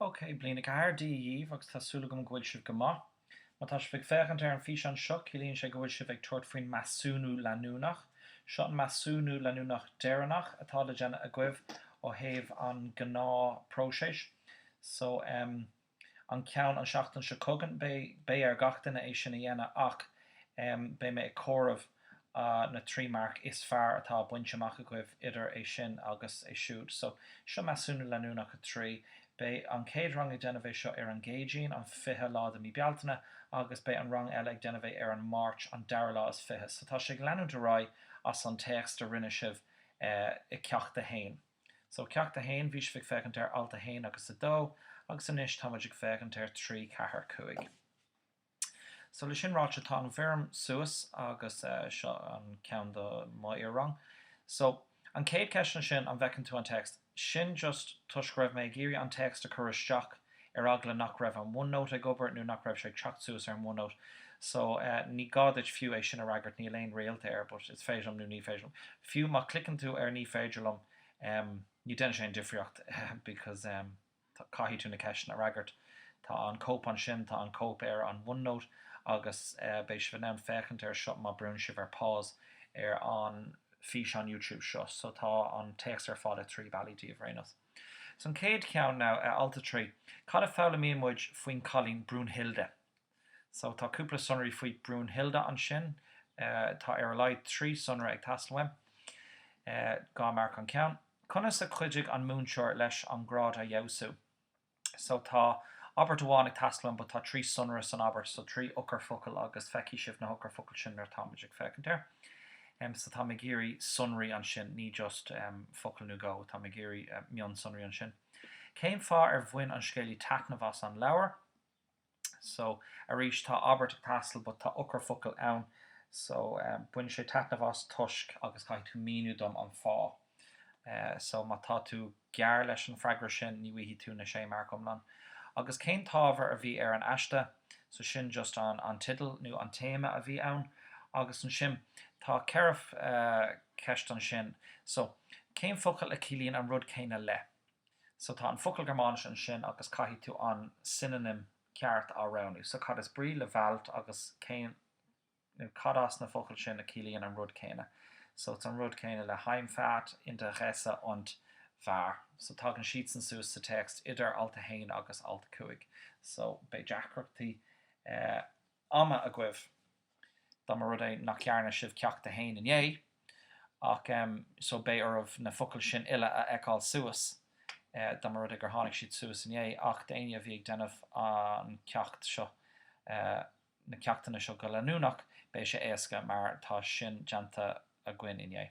Ok, bliain a ceathair Dia dhaoibh agus tá súil agam go bhfuil sibh go maith. Má tá sibh ag féachaint ar an físeán seo, ciallaíonn sé go bhfuil sibh ag tabhairt faoin measúnú leanúnach. Seo an measúnú leanúnach deireanach atá le déanamh agaibh ó thaobh an gnáth próiseas. So, em. an ceann an seachtain seo chugainn. Beidh ar gach duine é sin a dhéanamh ach beidh mé ag comhaireamh na trí marc is fearr atá bainte amach agaibh idir é sin agus é siúd. So, seo Measúnú Leanúnach 3. Beidh an chéad rang ag déanamh é seo ar an gCéadaoin, an 20 lá de mí Bealtaine agus beidh an rang eile ag déanamh é ar an Máirt, an dara lá is fiche. So, tá sé ag leanúint ar aghaidh as an téacs a rinne sibh i Ceacht 1. So, Ceacht 1, bhí sibh ag féachaint ar Alt 1 agus 2, agus anois tá muid ag féachaint ar 3, 4, 5. So, le sin ráite, tá an bhfoirm suas agus seo an ceann do mo iar-rang. So, an céad ceist ansin, an bhfeiceann tú an téacs? Sin just toisc go raibh mé ag iarraidh an téacs a cur isteach ar eagla nach raibh an OneNote ag obair nó nach raibh sé ag teacht suas ar an OneNote so ní gá duit fiú é sin a fhreagairt, níl aon réalta air but is féidir liom nó ní féidir liom, fiú má chliceann tú ar ní féidir liom em ní deineann sé aon difríocht because em tá, caithfidh tú na ceisteanna a fhreagairt. Tá an cóip ansin, tá an cóip ar an OneNote agus eh beidh sibh in ann féachaint air seo má brúnn sibh ar pause ar an físeán YouTube seo so tá an téacs ar fáil i dtrí bealaí daoibh ar aon nós. So an chéad ceann now, eh, alt 3, cad a foghlaimíonn muid faoin cailín Brunhilde? So tá cúpla sonraí faoi Brunhilde ansin, eh, tá ar a laghad trí sonra ag teastáil uaim. Eh, dhá marc an ceann. Conas a chuidigh an múinteoir leis an grád a fheabhsú? So tá abairt amháin ag teastáil ann but tá trí sonra san abairt so trí eochairfhocail agus feicfidh sibh na heochairfhocail sin nuair atáimid ag féachaint air. Um, so táim ag iarraidh sonraí ansin, ní just um, focail nó go, táim ag iarraidh uh, mionsonraí ansin. Cén fáth ar bhain an scéalaí taitneamh as an leabhar? So, arís, tá abairt ag teastáil but tá eochairfhocal ann. So, bhain sé taitneamh as toisc agus caithfidh tú míniú dom an fáth. So, má tá tú gearr leis an freagra sin, ní bhfaighidh tú na sé marc iomlán. Agus cén t-ábhar a bhí ar an aiste? So, sin just an an tideal nó an téama a bhí ann. Agus ansin, tá ceithre cheist ansin. So, cén focal a chiallaíonn an rud céanna le? So tá an focal Gearmáinis ansin agus caithfidh tú an synonym ceart a roghnú. So cad is brí le Wald agus cén, nó cad as na focail sin a chiallaíonn an rud céanna? So it's an rud céanna le Heimfahrt, Interesse und wahr. So tagann siadsan suas sa téacs idir alt 1 agus alt 5. So beidh deacrachtaí ama agaibh, dá mba rud é nach dhearna sibh ceacht a haon inné, ach, em, so beidh oraibh na focail sin uile a fheiceáil suas, eh, dá mba rud é gur tháinig siad suas inné, ach d'éinne a bhí ag déanamh an ceacht seo, eh, na ceachtanna seo go leanúnach, beidh sé éasca, mar tá sin déanta againn inné.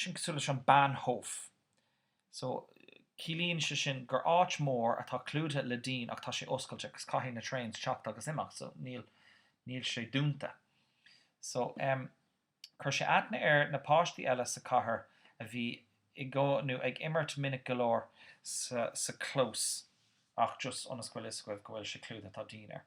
sin cosúil leis an Bahnhof so ciallaíonn sé sin gur áit mór atá clúdaithe le díon ach tá sé oscailte agus caithfidh na trains teacht agus imeacht so níl níl sé dúnta so em chuir sé aithne ar na páistí eile sa chathair a bhí i gcónaí ag imirt minic go leor sa sa clós ach just ionas go bhfuil fhios agaibh go bhfuil sé clúdaithe tá díon air.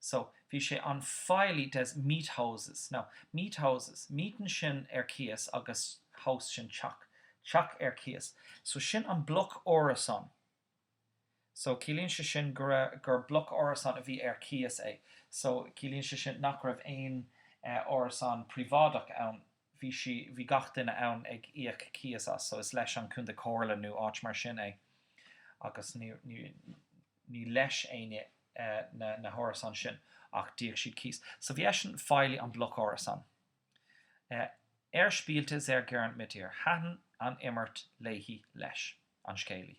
So, bhí sé an feighlí des Miethauses. Now, Miethauses, mieten sin ar cíos agus Haus sin teach, teach ar cíos. So, sin an bloc árasán. So, ciallaíonn sé sin go raibh, gur bloc árasán a bhí ar cíos é. So, ciallaíonn sé sin nach raibh aon árasán príobháideach ann. bhí sí, bhí gach duine ann ag íoc cíos as, so is leis an Contae Comhairle nó áit mar sin é agus ní, ní, ní leis éinne na, na hárasáin sin ach d'íoc siad cíos. So bhí eisean, feighlí an bloc árasán. Er spielte sehr gern mit ihr, thaitin an imirt léi, leis, an scéalaí.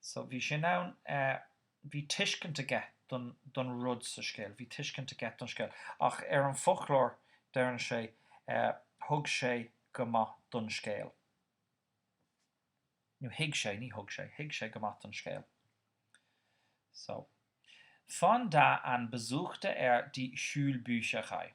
So, bhí sin ann, bhí tuiscint aige don rud sa scéal, bhí tuiscint aige don scéal. Ach ar an foclóir, deireann sé, thug sé go maith don scéal. Nó thuig sé, ní thug sé, thuig sé go maith don scéal. So, von da an besuchte er die Schulbücherei.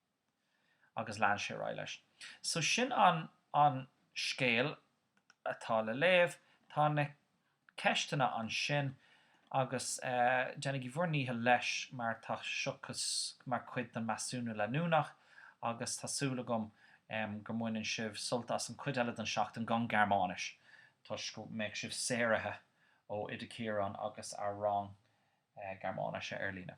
agus lean sé ar aghaidh leis. So sin an an scéal atá le léamh. Tá na ceisteanna ansin agus eh déanaigí bhur ndícheall leis mar tá seo mar chuid den measúnú leanúnach agus tá súil agam em go mbaineann sibh sult as an chuid eile den seachtain gan Gearmáinis toisc go mbeidh sibh saoraithe ó Oide Ciarán agus a rang eh Gearmáinise ar líne.